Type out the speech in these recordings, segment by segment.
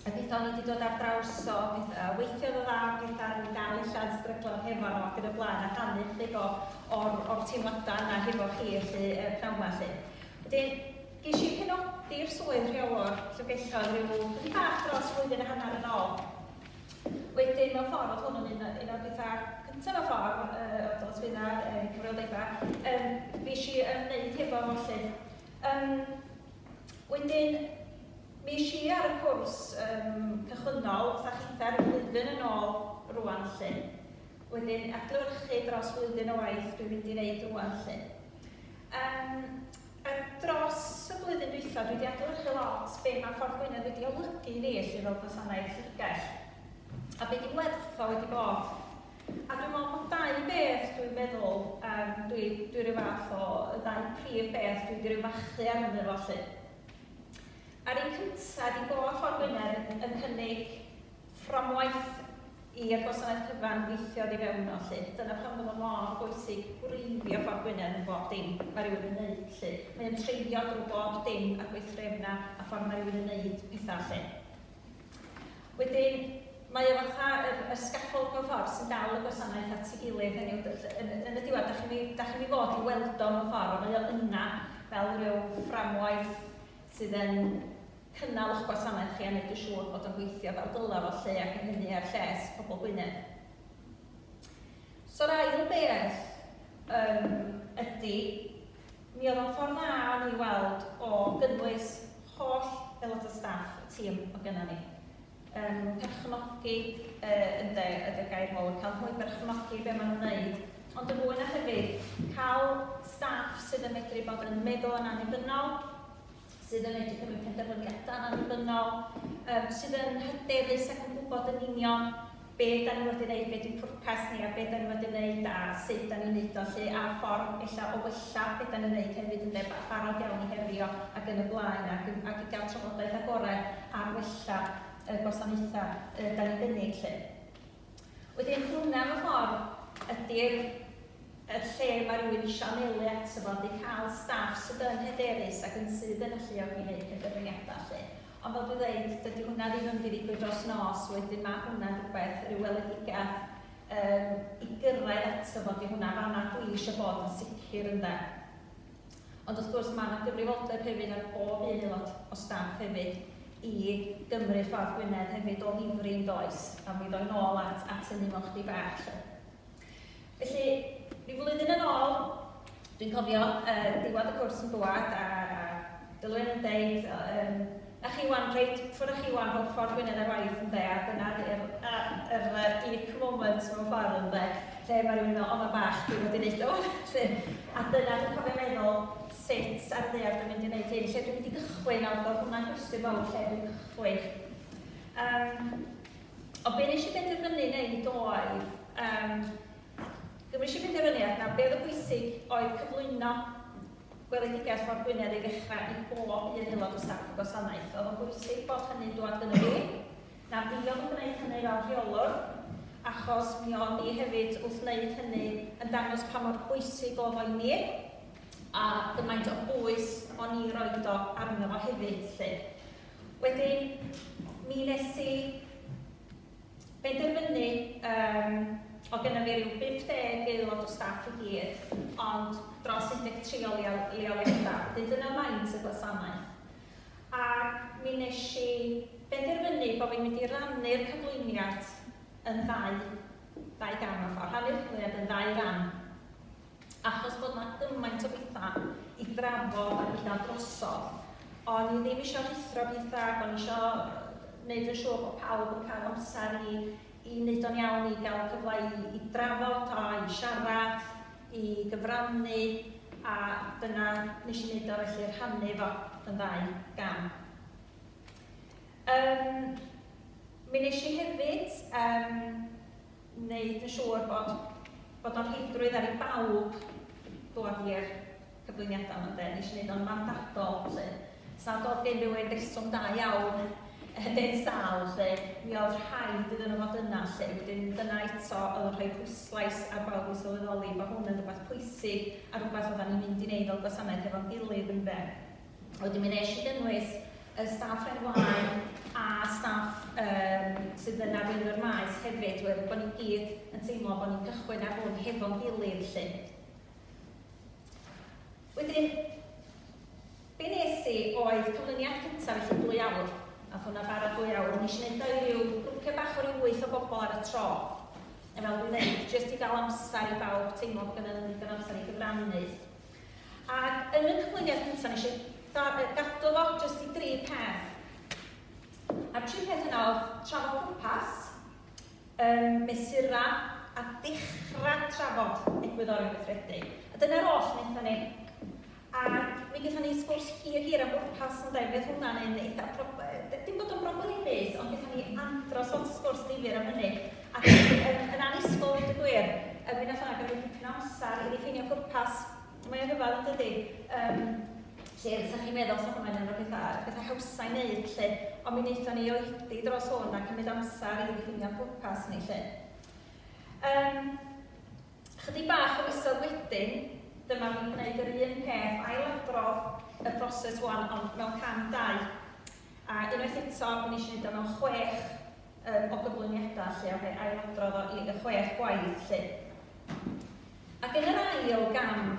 a beth o'n i wedi dod ar draws o, beth, uh, weithiodd o dda, beth ar i gael illa yn stryglo hefo nhw ac yn y blaen a rhannu chyd o, o'r, or teimladau yna hefo chi felly y pnawn yma lle. Wedyn, ges i penodi'r swydd rheolwr llyfgelloedd rhyw chydig bach dros flwyddyn a hanner yn ôl. Wedyn, mewn ffordd, oedd hwn yn un, un o'r pethau cyntaf mewn ffordd, uh, oedd o'n swydd ar uh, cyfrioldebau, um, fi eisiau ymwneud hefo hwn lle. Um, Wedyn, mi esh i ar y cwrs yym cychwynnol fatha chithau'r flwyddyn yn ôl rŵan 'lly. Wedyn adlewyrchu dros flwyddyn o waith dwi'n mynd i neud rŵan 'lly. Yym a dros y flwyddyn dwytha dwi 'di adlewyrchu lot be' ma' Ffordd Gwynedd wedi olygu i ni 'lly fel gwasanaeth llyfrgell. A be' 'di werth o wedi bod. A dwi'n meddwl bod dau beth dwi'n meddwl, yym dwi dwi ryw fath o, y ddau prif beth dwi 'di ryw fachu arnyn nhw felly. A'r un cynta ydi bod Ffordd Gwynedd yn yn cynnig fframwaith i'r gwasanaeth cyfan weithio oddi fewn yno lly. Dyna pam bod o mor bwysig gwreiddio Ffordd Gwynedd yn bob dim ma' rywun yn neud lly. Mae o'n treiddio drwy bob dim a'r gweithdrefna a ffordd ma' rywun yn neud petha lly. Wedyn, mae o fatha yr, yr scaffold mewn ffordd sy'n dal y gwasanaeth at ei gilydd, hynny yw, yn, yn y diwedd, dach chi'n mynd i, dach chi'n mynd i fod i weld o mewn ffordd, ond mae o yna fel rhyw fframwaith sydd yn cynnal eich gwasanaeth chi a wneud yn siŵr bod o'n gweithio fel dylai fod 'lly, ac yn hynny er lles pobl Gwynedd. So'r ail beth yym ydi, Mi oedd o'n ffordd dda o'n i weld o gynnwys holl aelod o staff y tîm o gynna ni. Yym, perchnogi, yy, ynde, ydy'r gair mowr, cael nhw i berchnogi be' ma' nhw'n neud, ond yn fwy na hefyd, cael staff sydd yn medru bod yn meddwl yn annibynnol, sydd yn medru cymryd penderfyniadau annibynnol, um, sydd yn hyderus ac yn gwybod yn union be da ni wedi wneud, be di pwrpas ni a be da ni wedi wneud a sut da ni'n neud o lle a'r ffordd ella o wella be da ni'n neud hefyd yn deba barod iawn i herio ac yn y blaen ac, ac i gael trafodaeth agored ar wella y gwasanaethau da ni'n gynnig lle. Wedyn hwnna mewn ffordd ydy'r y lle mae rhywun eisiau anelu ato fo ydy cael staff sydd yn hyderus ac yn sydd yn alluog i wneud penderfyniadau 'lly. Ond fel dwi'n ddeud, dydy hwnna ddim yn mynd i ddigwydd dros nos, wedyn mae hwnna'n rhywbeth, rhyw weledigaeth yym i gyrraedd ato fo, 'di hwnna fan'na dwi eisiau bod yn sicr ynde. Ond wrth gwrs, mae 'na gyfrifoldeb hefyd ar bob un aelod o staff hefyd i gymryd ffordd Gwynedd hefyd o ddifri, yn does? A mi ddoi nôl at at hynny mewn chdi bach 'lly. Felly, ryw flwyddyn yn ôl, dwi'n cofio, yy, diwedd y cwrs yn dŵad a a Dilwyn yn deud, yy, yym, A chi wan reit ffwr a chi wan fel ffordd Gwynedd ar waith ynde a dyna ydy'r yr yr unique moment mewn ffordd ynde lle ma' rywun yn meddwl o ma'n bach dwi fod i neud o 'lly a dyna dwi'n cofio meddwl sut ar y ddaear dwi'n mynd i neud hyn lle dwi'n mynd i gychwyn a o'dd hwnna'n gwestiwn mawr lle dwi'n cychwyn yym ond be nes i benderfynu neud oedd yym be nes i benderfynu oedd na be oedd yn bwysig oedd cyflwyno Gweledigaeth Ffordd Gwynedd i ddechrau i bob un aelod o staff y gwasanaeth. Oedd o'n bwysig bod hynny'n dŵad gynno fi. Na fi oedd yn gwneud hynny fel rheolwr, achos mi o'n ni hefyd wrth wneud hynny yn dangos pa mor bwysig oedd o i mi, a gymaint o bwys o'n i roed o arno fo hefyd 'lly. Wedyn, mi nes i Penderfynu, Yym, o' gynna fi ryw 50 aelod o staff i gyd, ond dros 13 o leol- leoliadau, wedyn dyna faint y gwasanaeth. Ac mi wnes i benderfynu bo' fi'n mynd i rannu'r cyflwyniad yn ddau ddau gam mewn ffor', rhannu'r cyflwyniad yn ddau ran. achos bod 'na gymaint o betha' i ddrafod a gwella drosodd, o'n i ddim isio rhuthro petha' ac o'n i isio 'neud yn siŵr bod pawb yn ca'l amsar i i 'neud o'n iawn, i ga'l cyfla i i drafod o, i siarad, i gyfrannu, a dyna nesh i 'neud o felly, rhannu fo yn ddau gam. Yym mi nesh i hefyd yym wneud yn siŵr bod bod o'n rheidrwydd ar i bawb ddod i'r cyflwyniadau yma ynde, nes i wneud o'n mandadol 'lly. Os nad o'dd gen rywun reswm da iawn yn eu sâl 'lly, mi o'dd rhaid iddyn nhw fod yna 'lly. Wedyn dyna eto o'dd yn rhoi pwyslais ar bawb i sylweddoli bo' hwn yn rwbath pwysig a rwbath oddan ni'n mynd i neud fel gwasanaeth hefo'n gilydd ynde. Wedyn mi nes i gynnwys y staff ar wain a staff um, sydd yn arweinio'r maes hefyd, oherwydd bod ni gyd yn teimlo bod ni'n cychwyn ar hwn hefo'n gilydd lle. Wedyn, be nes i oedd cyflwyniad cyntaf felly dwy awr, a hwnna bara dwy awr, nes i wneud o'i ryw grwpiau bach o ryw wyth o bobl ar y tro. A fel dwi'n dweud, jyst i gael amser i bawb teimlo bod gennym ni ddigon amser i gyfrannu Ac yn y cyflwyniad cyntaf, nes i gadw fo jyst i dri peth. A'r tri peth yna oedd trafod pwrpas, um, mesura a dechrau trafod egwyddorion gweithredu. A dyna'r oll wnaethon ni. A mi gaethon ni sgwrs hir hir am bwrpas yn dau, mi oedd hwnna'n un eitha' prob... dim bod o'n broblemus, ond gaethon ni andros o sgwrs difyr am hynny. Ac yn, yn, yn annisgwyl dweud y gwir, yn mynd allan ac yn mynd dipyn o amser i ddiffinio pwrpas, mae o'n rhyfedd yn dydy. Um, lle ydych chi'n meddwl sa hwnna'n un o'r pethau, pethau hawsau i wneud lle, ond mi wnaethon ni oedi dros hwn a cymryd amser i ddiffinio pwrpas ni lle. Um, chydig bach o misoedd wedyn, dyma fi'n gwneud yr un peth, ailadrodd y broses wan, ond mewn cam dau. A unwaith eto, mi wnes i fynd â mewn chwech yym o gyflwyniadau 'lly, a fe ailadrodd o i y chwech gwaith 'lly. Ac yn yr ail gam,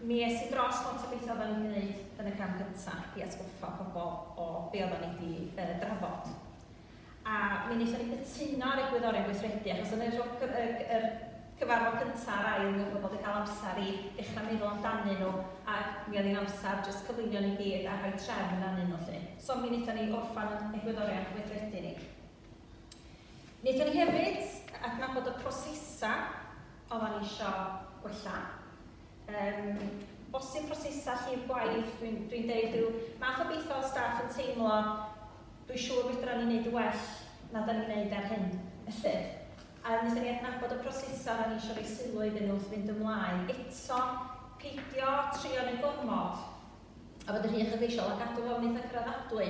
mi es i dros lot o betha oeddan ni'n wneud yn y cam gynta' i atgoffa pobl o be' oeddan ni 'di yy drafod. A mi wnaethon ni gytuno ar egwyddorion gweithredu, achos yn yr yr cyfarfod cyntaf a'r ail, mi oedd pobl wedi cael amser i ddechrau meddwl amdanyn nhw, a mi oedd hi'n amser jyst cyflwyno ni gyd a rhoi trefn arnyn nhw 'lly. So mi wnaethon ni orffen yn egwyddorion gweithredu ni. Wnaethon ni hefyd adnabod y prosesau oedden ni isio gwella. Um, bosib prosesau llif gwaith, dwi'n dwi deud rhyw math o beth o staff yn teimlo Dwi siŵr fedran ni neud yn well na da ni'n neud ar hyn y llyd. A wnaethon ni adnabod y prosesau da ni isio roi sylw iddyn nhw wrth fynd ymlaen. Eto, peidio trio neud gormod a bod yn rhy uchelgeisiol a cadw fo'n eitha' cyraddadwy.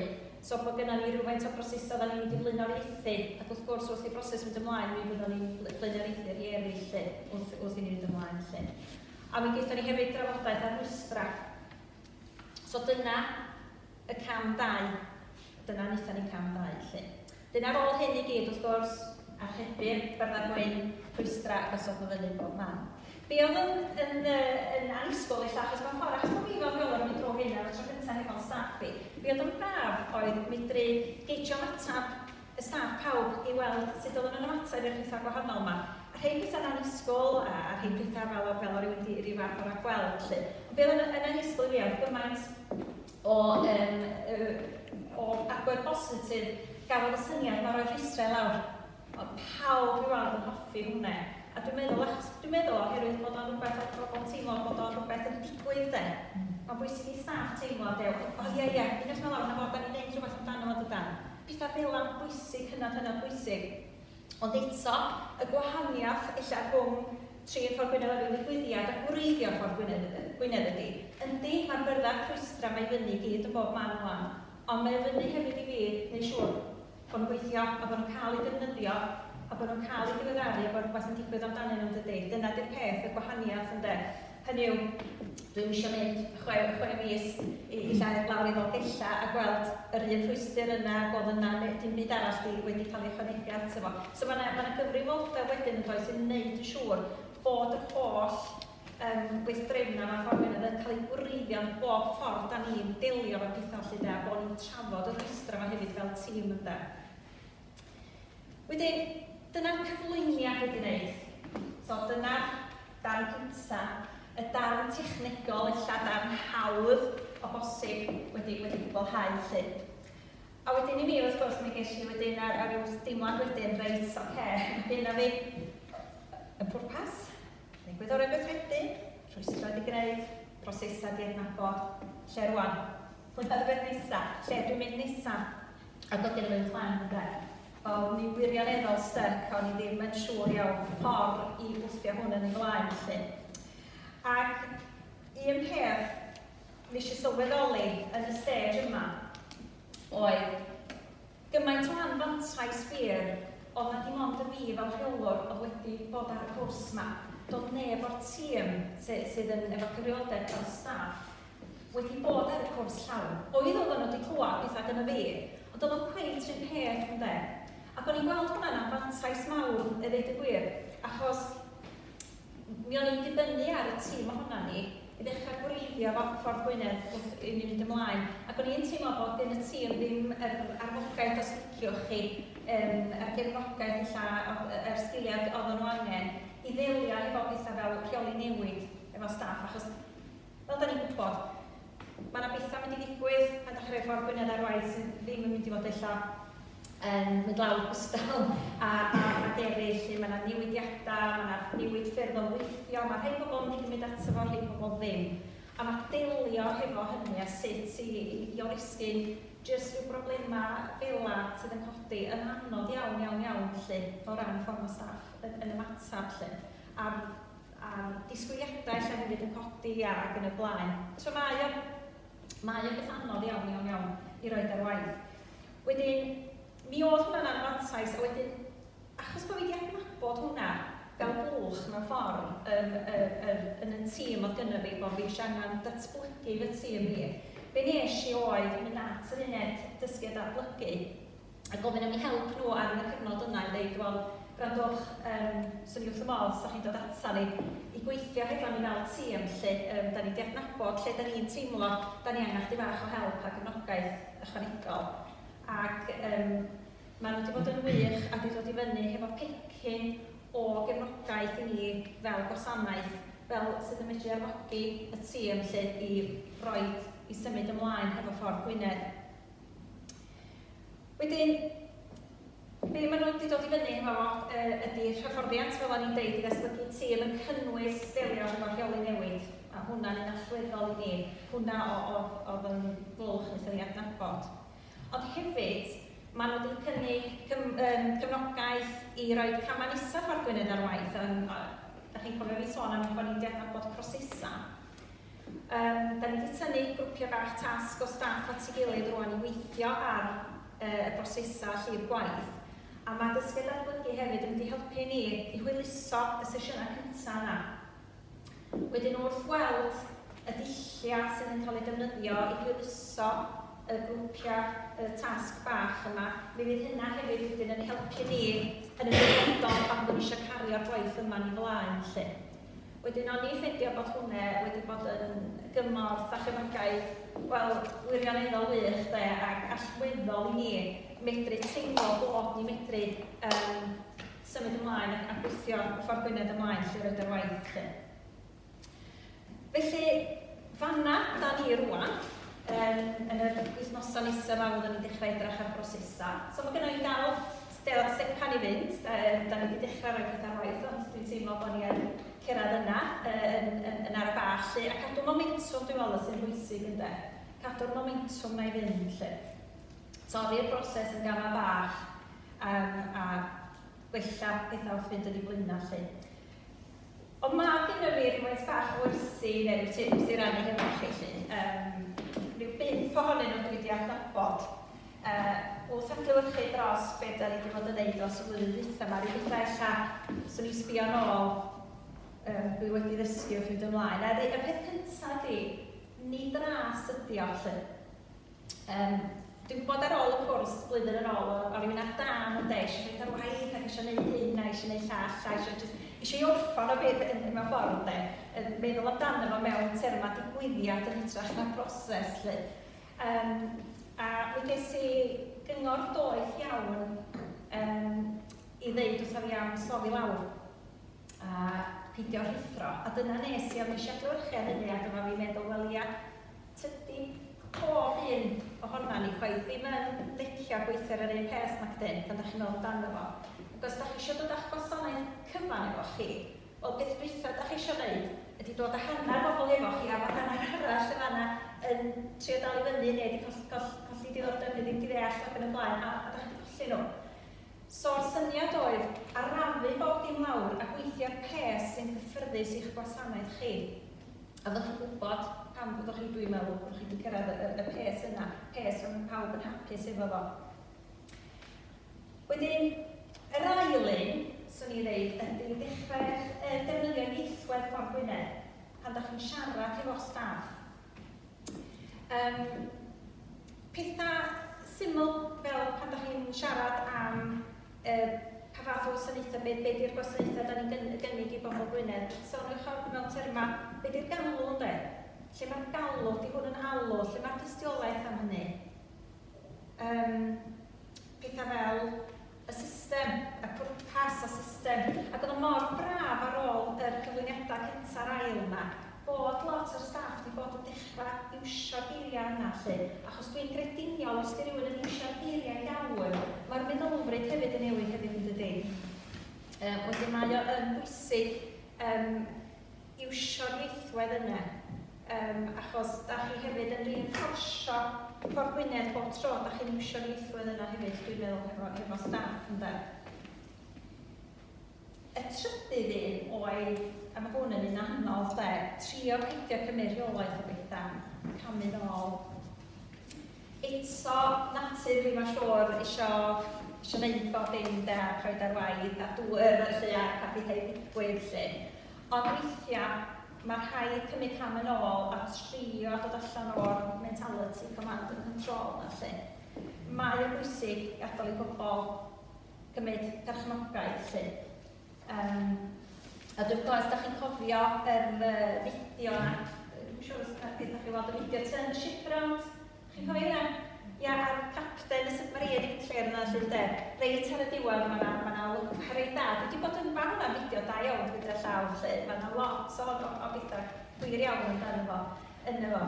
So bod gynna ni rywfaint o brosesau da ni'n mynd i flaenoriaethu ac wrth gwrs wrth i'r broses fynd ymlaen mi fyddwn ni'n blaenoriaethu rhei eraill 'lly wrth wrth i ni fynd ymlaen 'lly. A mi gaethon ni hefyd drafodaeth ar rwystra'. So dyna y cam dau, dyna wnaethon ni, cam dau 'lly. Wedyn ar ôl hyn i gyd wrth gwrs, archebu'r byrddau gwyn, rhwystra a gosod nhw fyny bob man. Be oedd yn, yn, yn annisgwyl ella, achos mewn ffordd, achos bod fi fel rheolwr yn mynd drwy hyn ar y tro cyntaf hefo'n staff i, be oedd yn braf oedd medru geijio'n ateb y staff pawb i weld sut oedden nhw'n ymateb i'r pethau gwahanol 'ma. A rhei pethau'n annisgwl a a rhei pethau fel o fel o rywun 'di ryw fath o ragweld 'lly. Ond be' oedd yn yn annisgwl i fi oedd gymaint o yym yy o agwedd bositif gafodd y syniad 'ma o roi rhwystrau i lawr. Oedd pawb i weld yn hoffi hwnne. A dwi'n meddwl achos dwi'n meddwl oherwydd bod o'n rywbeth oedd pobl yn teimlo bod o'n rywbeth yn digwydd 'de. Mae'n bwysig i staff teimlo 'de o ia ia peidiwch â mynd lawr 'na fo, 'dan ni'n neud rhywbeth amdano fo dydan? Pethau fela'n bwysig, hynod, hynod bwysig. Ond eto, y gwahaniaeth ella rhwng trin Ffordd Gwynedd ar ryw ddigwyddiad a gwreiddio Ffordd Gwynedd Gwynedd ydi, yndi, mae'r byrddau'r rhwystra 'ma i fyny i gyd yn bob man wan, ond mae o fyny hefyd i fi neu' siŵr bod nhw'n gweithio a bod nhw'n cael eu defnyddio a bod nhw'n cael eu diweddaru a bod rhywbeth yn digwydd amdanyn nhw, yn dydi? Dyna 'di'r peth, y gwahaniaeth, ynde? Hynny yw, dwi'm isio mynd chwe, chwe mis i, i llawer lawr i Ddolgella a gweld yr un rhwystr yna, bod yna, neu dim byd arall di, wedi cael ei ychwanegu ato fo. So mae yna, mae yna gyfrifoldeb wedyn yn does yn wneud yn siŵr bod yr holl um, weithdrefnau math o'r yn cael ei gwreiddio yn bob ffordd da ni'n delio efo pethau felly de, a bod ni'n trafod y rhwystrau yma hefyd fel tîm ynde. Wedyn, dyna'r cyflwyniad wedi wneud. So, dyna'r darn cynta, y darn technegol, ella darn hawdd o bosib wedi, wedi gwblhau lly. A wedyn i mi, wrth gwrs, mi ges i wedyn ar, ar ryw deimlad wedyn, reit, oce, okay, mae gynna fi y pwrpas, Cynnig gwyddorau gweithredu, rhwystro digraidd, prosesau diadnabod, lle rwan? Pwy pa rywbeth nesa? Lle ydw i'n mynd nesa? A bod gennym un plan ynde? Wel, mi wirioneddol styc o'n i ddim yn siŵr iawn y ffordd i wthio hwn yn ei flaen felly. Ac un peth nes i sylweddoli yn y stage yma oedd Gymaint o anfantais wir, ond na dim ond y fi fel rheolwr oedd wedi bod ar y cwrs 'ma, doedd neb o'r tîm sy sydd yn efo cyfrioldeb dros staff wedi bod ar y cwrs llawn. Oedd oeddan nhw 'di clywed petha gynna fi, ond doedd o'm cweit 'run peth ynde? Ac o'n i'n gweld hwnna'n anfantais mawr i ddeud y gwir, achos, mi o'n i'n dibynnu ar y tîm ohonan ni i ddechrau gwreiddio fo Ffordd Gwynedd wrth i ni fynd ymlaen. Ac o'n i'n teimlo bod gen y tîm ddim yr arfogaeth os liciwch chi, yym yr gefnogaeth ella, yr er sgiliau oedden nhw angen i ddelio efo pethau fel rheoli newid efo staff, achos Fel da ni'n gwybod, mae yna bethau mynd i ddigwydd pan da chi rhoi ffordd Gwynedd ar waith sydd ddim yn mynd i fod ella yn mynd lawr gwstal a, a, a deru, lle mae yna newidiadau, mae yna newid ffyrdd o weithio, mae rhai pobl yn mynd i gymryd ato fo, rhai pobl ddim. A mae delio hefo hynny a sut i, i, i oresgyn jyst rhyw broblemau fela sydd yn codi yn anodd iawn, iawn, iawn, felly, o ran ffordd mae staff yn, yn ymateb, felly. A'r a'r disgwyliadau lle hefyd yn codi a ac yn y blaen. So mae o, mae o beth anodd iawn, iawn, iawn i roid ar waith. Wedyn, mi oedd hwnna'n anfantais a wedyn achos bod fi wedi adnabod hwnna fel bwlch mewn ffordd yn y, yr, yn y tîm oedd gynna fi, bod fi eisiau angen datblygu fy tîm hi, be wnes i oedd mynd at yr uned dysgu a datblygu a gofyn am eu help nhw ar y cyfnod yna i ddeud, wel, gwrandwch, yym, 'swn i wrth fy modd os dach chi'n dod ata ni i gweithio hefo ni fel tîm 'lly, yym, 'dan ni 'di adnabod lle 'dan ni'n teimlo 'dan ni angen chydig bach o help a gefnogaeth ychwanegol'. Ac yym maen nhw 'di bod yn wych a 'di dod i fyny hefo pecyn o gefnogaeth i ni fel gwasanaeth, fel sydd yn medru arfogi y tîm 'lly i roid, i symud ymlaen hefo Ffordd Gwynedd. Wedyn, be maen nhw wedi dod i fyny hefo yy ydy hyfforddiant, fel o'n i'n deud, i ddatblygu tîm yn cynnwys delio hefo rheoli newid, a hwnna'n un allweddol i ni, hwnna o- o- oedd yn blwch wnaethon ni adnabod. Ond hefyd, maen nhw wedi cynnig cym- yym cefnogaeth i roi camau nesaf Ffordd Gwynedd ar waith, yym a dach chi'n cofio fi sôn am bo' ni'n 'di adnabod prosesau. Yym, da ni 'di tynnu grwpiau bach tasg o staff at ei gilydd rŵan i weithio ar yy y brosesau a llif gwaith, a ma' dysgu a datblygu hefyd yn mynd i helpu ni i hwyluso y sesiynau cynta' yna. Wedyn wrth weld y dulliau sydd yn cael eu defnyddio i hwyluso y grwpiau yy tasg bach yma, mi fydd hynna hefyd wedyn yn helpu ni yn y dyfodol pan fyddwn ni isio cario'r gwaith yma'n ei flaen 'lly. Wedyn oni ffendio bod hwne wedi bod yn gymorth a chefnogaeth, wel, wirioneddol wych, 'de, ac allweddol i ni medru teimlo bod ni medru yym symud ymlaen a a gwthio y ffordd Gwynedd ymlaen 'lly roid yr waith 'lly. Felly, fan'na 'da ni rŵan, yym yn yr wythnosa' nesa' 'ma fyddwn ni'n dechra' edrach ar brosesa'. So ma' gynna' i darlun Lle oedd Stepan i fynd? Yym, 'dan ni 'di dechra' roi petha' ar waith, ond dwi'n teimlo bo' ni yn cerddad yna, yy yn yn yn ara' bach 'lly. A cadw momentwm dwi'n meddwl sy'n bwysig ynde? Cadw'r momentwm 'na i fynd 'lly. Torri'r broses yn gama' bach, yym, a gwella petha' wrth fynd yn 'u blaena' 'lly. Ond ma' gyn i fi rywfaint bach o wersi i neu ryw tips i rannu hefo chi 'lly. Yym, ryw bump ohonyn nhw dwi 'di adnabod yy wrth adlewyrchu dros be' 'dan ni 'di bod yn neud dros y flwyddyn dwytha 'ma, ryw betha ella 'swn i'n sbio nôl yym dwi wedi ddysgu wrth fynd ymlaen. A y peth cynta ydi, nid ras ydi o 'lly. Yym, dwi'n gwybod ar ôl y cwrs blwyddyn yn ôl, o'n i'n mynd ar dân ynde, eisiau mynd ar waith ac eisiau gwneud hyn a eisiau gwneud llall a eisiau jyst... eisiau ei orffen o fyth yn mewn ffordd ynde, yn meddwl amdano fo mewn termau digwyddiad yn hytrach na broses 'lly. Yym, a mi ges i gyngor doeth iawn yym i ddeud wrtha fi am slofi lawr a peidio rhuthro, a dyna wnes i, ond wnes i adlewyrchu ar hynny ac oedda fi'n meddwl, wel ia, Tydi pob un ohonan ni chwaith ddim yn licio gweithio ar yr un peth nac 'dyn, pan 'da chi'n meddwl amdano fo. Ac os 'da chi isio dod â'ch gwasanaeth cyfan efo chi, wel peth dwytha 'da chi isio 'neud ydi dod a hanner bobl efo chi a bod hanner arall yn fan'na yn trio dal i fyny neu 'di coll- coll- colli diddordeb neu ddim 'di ddeall ac yn y blaen a a 'da chi 'di colli nhw. So'r syniad oedd arafu bob dim lawr a gweithio ar peth sy'n gyffyrddus i'ch gwasanaeth chi. A dych chi'n gwybod pam dw- dych chi, dwi'n meddwl, bod chi wedi cyrraedd y, y, y peth yna, peth lle mae pawb yn hapus efo fo. Wedyn, yr ail un, 'swn i'n ddeud, ydy i ddechrau yy defnyddio ieithwedd Ffordd Gwynedd pan dych chi'n siarad hefo'r staff. Yym, pethau syml fel pan dych chi'n siarad am Yy, pa fath o wasanaethau? Be be 'di'r gwasanaethau dan ni'n gyn- gynnig i bobl Gwynedd? Soniwch am, mewn termau, be 'di'r galw ynde? Lle mae'r galw? Ydy hwn yn alw? Lle mae'r dystiolaeth am hynny? Yym, pethau fel y system, y pwrpas, y system. Ac oedd o mor braf ar ôl yr cyflwyniadau cynta a'r ail 'ma, fod lot o'r staff 'di bod yn dechra iwsio'r geiriau yna 'lly, achos dwi'n grediniol os 'di rywun yn iwsio'r geiriau iawn, mae'r meddylfryd hefyd yn newid hefyd yn dydi? Yy wedyn mae o yn bwysig yym iwsio'r ieithwedd yna, yym achos da chi hefyd yn reinfforsio Port Gwynedd bob tro da chi'n iwsio'r ieithwedd yna hefyd dwi'n meddwl hefo, hefo staff ynde. Y trydydd un oedd, a ma' hwn yn un anodd 'de, trio peidio cymryd rheolaeth o betha, camu nôl. Eto, natur fi mae'n siŵr, isio isio wneud bob dim 'de, a rhoid ar waith a dŵr felly a a pethau digwydd 'lly. Ond weithiau, ma' rhaid cymryd cam yn ôl a trio dod allan o'r mentality command and control 'na 'lly. Mae o'n bwysig gadael i bobl gymryd perchnogaeth 'lly. Yym, a dwi'n gwybod, os da chi'n cofio yr fideo 'na, dwi'm yn siŵr os da chi wedi weld y fideo, Turn the Ship Round, chi'n cofio hynna? Ia, a'r capten y submarine yn troi arno felly, ynde? Reit ar y diwedd, mae 'na, mae 'na lwc reit dda. Dwi wedi bod yn barod am fideo da iawn gyda llaw 'lly, mae 'na lot o o o bethau gwir iawn amdano fo, ynddo fo.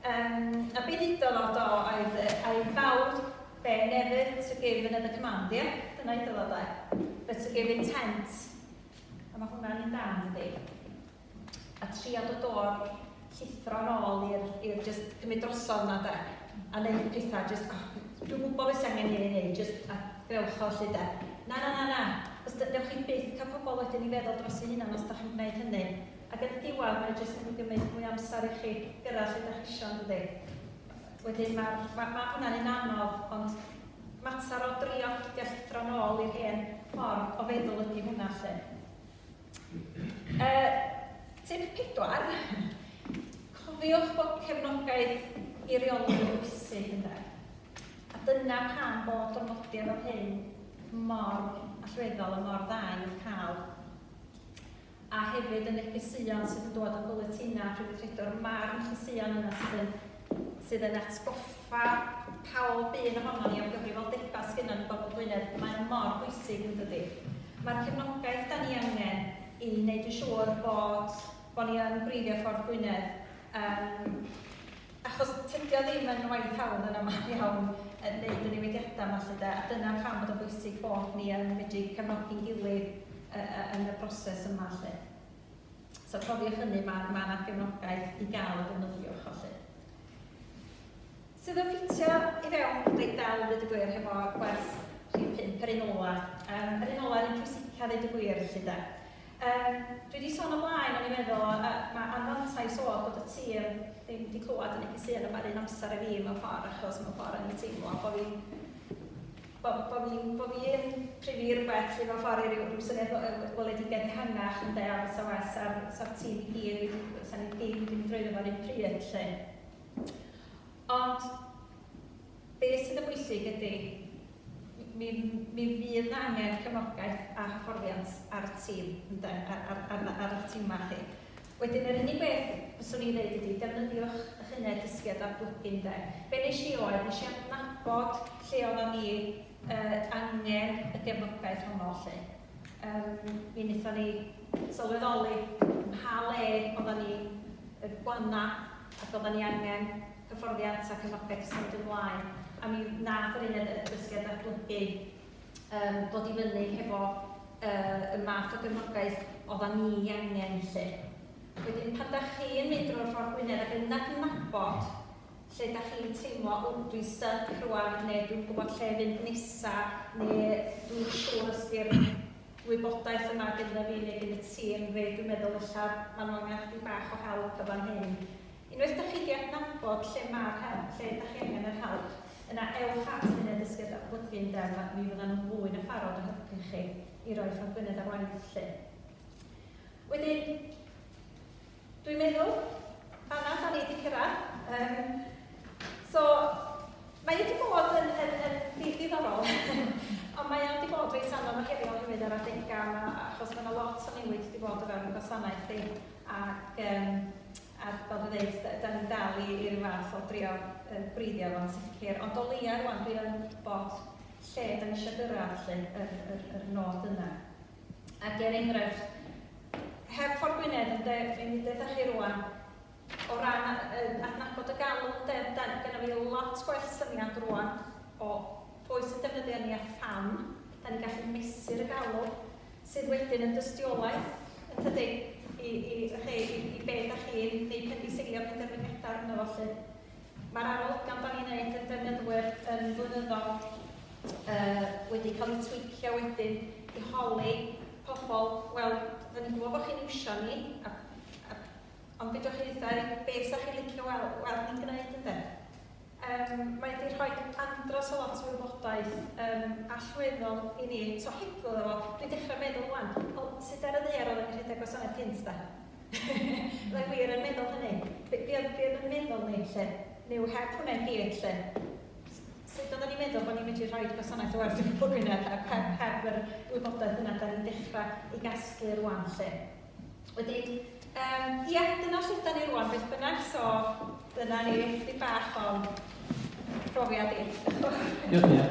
Yym, a be ddudodd o do oedd yy, I vowed Be never to give another command, ie? Dyna iddo fo de. But to give intent. A mae hwnna'n un da, yn dydi? A trio dod o'r llithro yn ôl i'r, i'r just cymryd drosodd yna de. A wneud pethau, just, oh, dwi'n gwybod beth sy'n angen i ni wneud, just a grewch o lle de. Na, na, na, na. Os da, newch chi byth cael pobl wedyn i feddwl dros ei hunan os da chi'n gwneud hynny. Ac yn y diwedd, mae'n just mynd i gymryd mwy amser i chi gyrraedd lle da chi eisiau, yn dydi? Wedyn ma'r... ma' ma' hwnna'n un anodd, ond mater o drio peidio llithro'n ôl i'r hen ffordd o feddwl ydi hwnna 'lly. Yy, tip pedwar, cofiwch bod cefnogaeth i reoli yn bwysig ynde. A dyna pam bod gofnodion fel hyn mor allweddol a mor dda i'w cael. a hefyd y negeseuon sydd yn dod yn bwletinau Rhyddfrydwr Ma'r negeseuon yna sydd yn sydd yn atgoffa pawb un ohonon ni o'r gyfrifoldebau sydd gynnon ni bobl Gwynedd, mae o mor bwysig yn dydi? Mae'r cefnogaeth da ni angen i wneud yn siŵr bod bod ni yn gwreiddio ffordd Gwynedd, um, Achos tydi o ddim yn waith hawdd yn aml iawn yn neud y newidiada 'ma 'lly 'de, a dyna pam bod o'n bwysig bod ni yn medru cefnogi'n gilydd yy yy yn y broses yma 'lly. So cofiwch hynny, ma' ma' 'na gefnogaeth i ga'l a defnyddiwch o 'lly. Sydd yn ffitio i fewn reit dda 'ddweud y gwir hefo gwers rhif pump, yr un ola'. Yym yr un ola' yr un pwysica 'ddeud y gwir 'lly 'de. Yym, dwi wedi sôn o blaen, o'n i'n meddwl, yy yy ma' anfantais o bod y tir ddim wedi clywed y neges un yma yr un amser â fi mewn ffordd achos mewn ffordd o'n i'n teimlo bo' fi'n bo' bo' fi'n bo' fi yn prynu rywbeth sy mewn ffordd i ryw ryw syniad o yy weledigaeth ehangach ynde a fysa well sa'r sa'r tîm i gyd wedi fysa ni ddim wedi mynd drwyddo fo 'run pryd 'lly. Ond Be sydd yn bwysig ydy, mi mi fydd 'na angen cefnogaeth a hyfforddiant ar y tîm ynde, ar eich timau chi. Wedyn yr unig beth fyswn i'n ddeud ydy defnyddiwch eich uned dysgu a datblygu ynde. Be wnes i oedd, wnes i adnabod lle oeddan ni angen y gefnogaeth honno 'lly. Yym mi wnaethon ni sylweddoli yn pa le oeddan ni'n gwannau ac oeddan ni angen hyfforddiant a cefnogaeth i symud ymlaen, a mi wnaeth yr uned addysgu a datblygu yym ddod i fyny hefo yy y math o gefnogaeth oeddan ni ei angen 'lly. Wedyn pan dach chi yn mynd drwy'r ffordd Gwynedd ac yn adnabod lle dach chi'n teimlo 'w dwi'n styc rŵan' neu 'dwi'm yn gwybod lle fynd nesa' neu 'dwi'm yn siŵr os 'di'r wybodaeth yma gynddaf fi neu gin y tîm fi, dwi'n meddwl ella ma' nhw angen chydig bach o help yn fan hyn. Unwaith dach chi 'di adnabod lle ma'r help, lle dach chi angen yr help, yna ewch at yr Uned Dysgu a Datblygu ynde, ma', mi fyddan nhw'n fwy na pharod o helpu chi i roi ffrog Gwynedd ar waith 'lly. Wedyn, dwi'n meddwl, fan'na 'dan ni 'di cyrraedd. Yym, so, mae wedi bod yn, yn, yn ddydd diddorol, ond mae wedi bod reit anodd a heriol hefyd ar adegau yma, achos mae yna lot o newid wedi bod o fewn y gwasanaeth i. ac yym a fel dwi'n dweud, d- dan ni'n dal i i ryw fath o drio yy gwreiddio fo'n sicr, ond o leia' rŵan dwi yn gwybod lle dan ni isio gyrraedd 'lly, yr yr yr nod yna. Ac er enghraifft, heb Ffordd Gwynedd ynde, dwi'n mynd i ddeud 'tha chi rŵan, o ran a- yy adnabod y galw ynde, da- gynna fi lot gwell syniad rŵan o pwy sy'n defnyddio ni a pham, dan ni'n gallu mesur y galw. sydd wedyn yn dystiolaeth, yn tydi, i i chi, i i be da chi'n ei phendiseilio penderfyniadau arno fo 'lly. Mae'r arolygon da ni'n neud yn defnyddwyr yn flynyddol yy wedi cael eu twîcio wedyn i holi pobl, wel, da ni'n gwybod bod chi'n iwsio ni, a a ond fedrwch chi ddeutha i be 'sa chi'n licio weld weld ni'n gneud ynde? Yym mae 'di rhoi andros o lot o wybodaeth yym allweddol i ni, so hygyrch iddo fo. Dwi'n dechra meddwl ŵan, o, sut ar y ddaear oedden ni'n rhedeg gwasanaeth cynt de? Fydda i wir yn meddwl hynny. Be be oedd be oedd yn meddwl ni 'lly? Neu heb hwnna i gyd 'lly, s- sut oedden ni'n meddwl bod ni'n medru rhoi gwasanaeth werth i bobl Gwynedd heb heb heb yr wybodaeth yna dan ni'n dechra ei gasglu rŵan 'lly? Wedyn, um, ia, dyna lle da ni rwan, beth bynnag, so dyna ni, di bach o'n profiad i. Diolch, Nia.